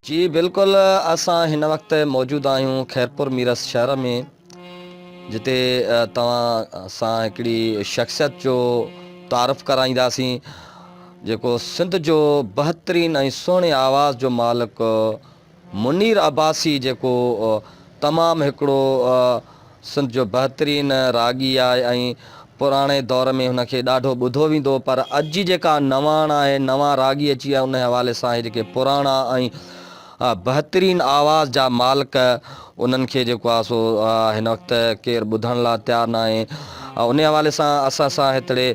جي بلڪل اسان هن وقت موجود آهيون خيرپور ميرس شهر ۾ جتي توهان سان هڪڙي شخصيت جو تعارف ڪرائينداسين جيڪو سنڌ جو بهترين ۽ سهڻي آواز جو مالڪ منير عباسي جيڪو تمام هڪڙو سنڌ جو بهترين راڳي آهي ۽ پراڻي دور ۾ هن کي ڏاڍو ٻڌو ويندو هو پر اڄ جي جيڪا نواڻ آهي نوان راڳي اچي ويا ان حوالي سان هي جيڪي پراڻا ۽ بهترين آواز جا مالڪ انهن کي جيڪو آهي سو هن وقت ڪير ٻڌڻ لا تيار ناهي ان حوالي سان اسان سان هتڙي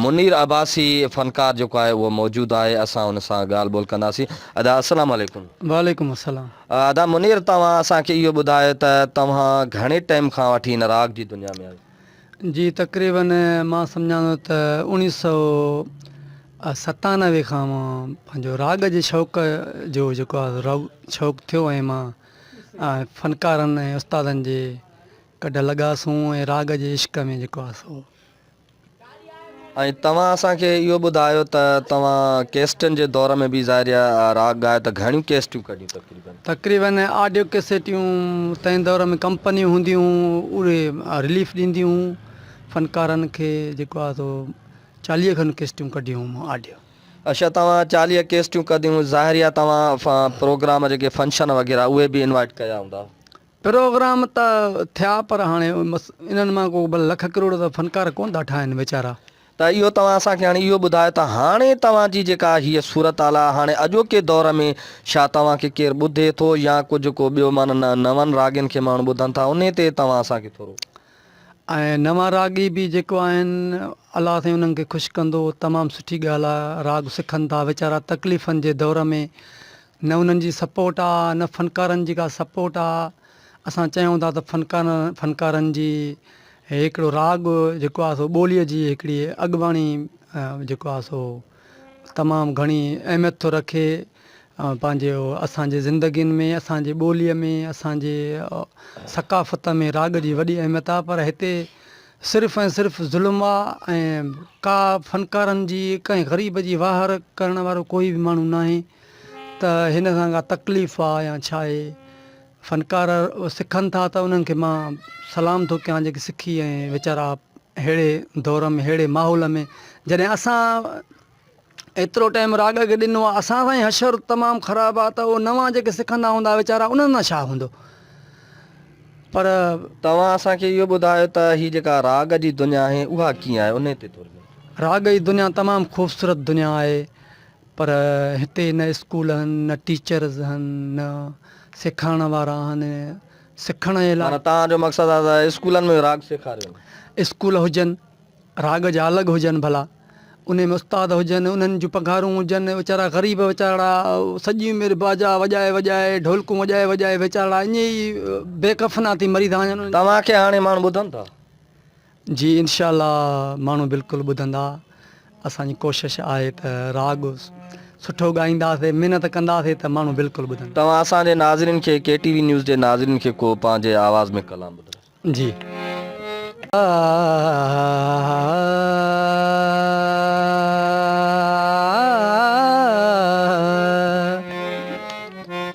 منير عباسي فنڪار جيڪو آهي اهو موجود آهي اسان ان سان ڳالهه ٻولهه ڪنداسين ادا السلام عليڪم. وعليڪم السلام. ادا منير توهان اسان کي اهو ٻڌايو ته توهان گهڻي ٽيم کان وٺي هن راڳ جي دنيا ۾ آهيو؟ جي تقريباً مان سمجهان ٿو ته اوڻيهه سؤ ستانوي کان مان پنهنجو راڳ جي شوق جو جيڪو آهي راڳ شوق ٿيو ۽ مان فنڪارن ۽ استادن جي گڏ لڳا سون ۽ راڳ جي عشق ۾ جيڪو آهي سو ۽ توهان اسان کي اهو ٻڌايو ته توهان ڪيسٽن جي دور ۾ به ظاهريا راڳ ڳايو ته گهڻيون ڪيسٽيون ڪڍيون تقريبن؟ تقريبن آڊيو ڪيسٽيون تنهن دور ۾ ڪمپنيون هونديون هون اهي رليف ڏينديون هون فنڪارن کي جيڪو آهي سو چاليهه کن ڪيسٽيون ڪڍيون هون مان آڊيو. اڇا توهان چاليهه ڪيسٽيون ڪڍيون ظاهريا توهان پروگرام جيڪي فنڪشن وغيره اهي به انوائٽ ڪيا هوندا؟ پروگرام ته ٿيا پر هاڻي انهن مان ڪو به لک ڪروڙ جا فنڪار ڪونه ٿا ٺاهن ويچارا. ته اهو توهان اسان کي هاڻي اهو ٻڌايو ته هاڻي توهان جي جيڪا هيء صورتحال آهي هاڻي اڄوڪي دور ۾ ڇا توهان کي ڪير ٻڌي ٿو يا ڪجهه ڪو ٻيو معنيٰ نه نون راڳين کي ماڻهو ٻڌن ٿا انهي تي توهان اسان کي ٿورو. ۽ نوان راڳي به جيڪو آهن الله سائين انهن کي خوش ڪندو تمام سٺي ڳالهه آهي راڳ سکن ٿا ويچارا تڪليفن جي دور ۾ نه انهن جي سپورٽ آ نه فنڪارن جي ڪا سپورٽ آ اسان چيون ٿا ته فنڪارن فنڪارن جي هڪڙو راڳ جيڪو آ سو ٻولي جي هڪڙي اڳواڻي جيڪو آ سو تمام گهڻي اهميت ٿو رکي پنهنجي اسان جي زندگين ۾ اسان جي ٻولي ۾ اسان جي ثقافت ۾ راڳ جي وڏي اهميت آ پر هتي صرف ۽ صرف ظلم آ ۽ ڪا فنڪارن جي ڪنهن غريب جي واهر ڪرڻ وارو ڪوئي به ماڻهو ناهي ته هن سان ڪا تڪليف آ يا ڇا اهي فنڪار سکن ٿا ته انهن کي مان سلام ٿو ڪيان جيڪي سکي ۽ ويچارا ههڙي دور ۾ ههڙي ماحول ۾ جڏهن اسان ايترو ٽائيم راڳ کي ڏنو آ اسان سان ئي حشر تمام خراب آ ته اهي نوان جيڪي سکندا هوندا ويچارا انهن سان ڇا هوندو پر توهان اسان کي اهو ٻڌايو ته هي جيڪا راڳ جي دنيا آهي اها ڪيئن آهي انهي تي ٿوري راڳ جي دنيا تمام خوبصورت دنيا آهي. پر هتي نه اسڪول هن نه ٽيچرز هن نه سيکارڻ وارا هن سکڻ جي لاء. معنيٰ توهان جو مقصد آهي ته اسڪولن ۾ راڳ سيکاريون. اسڪول هجن راڳ جا الڳ هجن ڀلا انهي ۾ استاد هجن انهن جون پگهارون هجن ويچارا غريب ويچارڙا سڄي عمر باجا وڄائي وڄائي ڍولڪون وڄائي وڄائي ويچارڙا ايئن ئي بي ڪفنا ٿي مري ٿا وڃن. توهان کي هاڻي ماڻهو ٻڌن ٿا. جي انشاء الله ماڻهو بلڪل ٻڌندا اسان جي ڪوشش آهي ته راڳ سٺو ڳائينداسي محنت ڪنداسي ته ماڻهو بلڪل ٻڌندا. توهان اسان جي ناظرين کي ڪي ٽي وي نيوز جي ناظرين کي ڪو پنهنجي آواز ۾ ڪلام ٻڌائو. جي آ.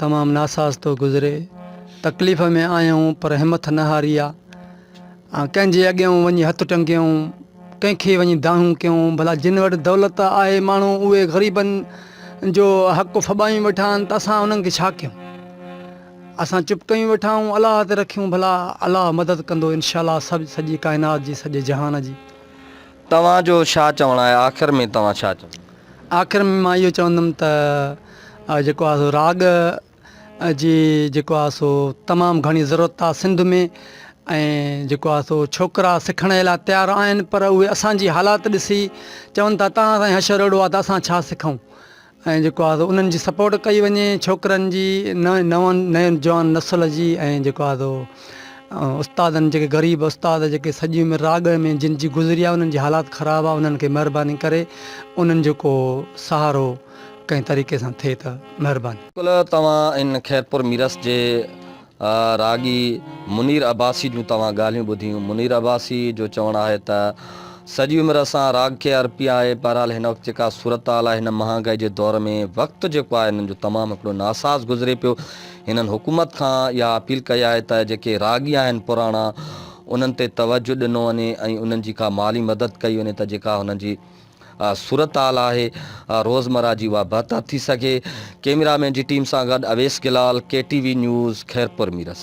تمام ناساز ٿو گذري تڪليف ۾ آهيون پر همٿ نه هاري آ ۽ ڪنهن جي اڳيان وڃي هٿ ٽنگيون ڪنهن کي وڃي دانهون ڪيون ڀلا جن وٽ دولت آهي ماڻهو اهي غريبن جو حق ڦٻايون ويٺا آهن ته اسان انهن کي ڇا ڪيون اسان چپ ڪيون ويٺا آهيون الله تي رکيون ڀلا الله مدد ڪندو انشاء الله سڀ سڄي ڪائنات جي سڄي جهان جي توهان جو ڇا چوڻ آهي آخر ۾ توهان ڇا چوندو؟ آخر ۾ مان اهو چوندم ته جيڪو آهي سو راڳ جي جيڪو آهي سو تمام گهڻي ضرورت آهي سنڌ ۾ ۽ جيڪو آهي سو ڇوڪرا سکڻ جي لاء تيار آهن پر اهي اسانجي حالات ڏسي چون ٿا تان سائين حشر اهڙو آهي ته اسان ڇا سکون ۽ جيڪو آهي سو انهن جي سپورٽ ڪئي وڃي ڇوڪرن جي نئين نوان نئين جوان نسل جي ۽ جيڪو آهي سو استادن جيڪي غريب استاد جيڪي سڄي عمر راڳ ۾ جن جي گذري آهي انهن جي حالات خراب آهي انهن کي مهرباني ڪري انهن جو ڪو سهارو ڪنهن طريقي سان ٿئي ته مهرباني. بلڪل توهان ان خيرپور ميرس جي. راڳي منير عباسي جون توهان ڳالهيون ٻڌيون. منير عباسي جو چوڻ آهي ته سڄي عمر اسان راڳ کي ارپي آهي. بهرحال هن وقت جيڪا صورتحال آهي هن مهانگائي جي دور ۾ وقت جيڪو آهي هنن جو تمام هڪڙو ناساز گذري پيو. هنن حڪومت کان اها اپيل ڪئي آهي ته جيڪي راڳي آهن پراڻا انهن تي توجه ڏنو وڃي ۽ انهن جي ڪا مالي مدد ڪئي وڃي ته جيڪا هنن جي صورتحال آهي روزمرهه جي اها بهتر ٿي سگهي ڪيميرا مين جي ٽيم سان گڏ Awais Gulal K T V news Khairpur Mirs.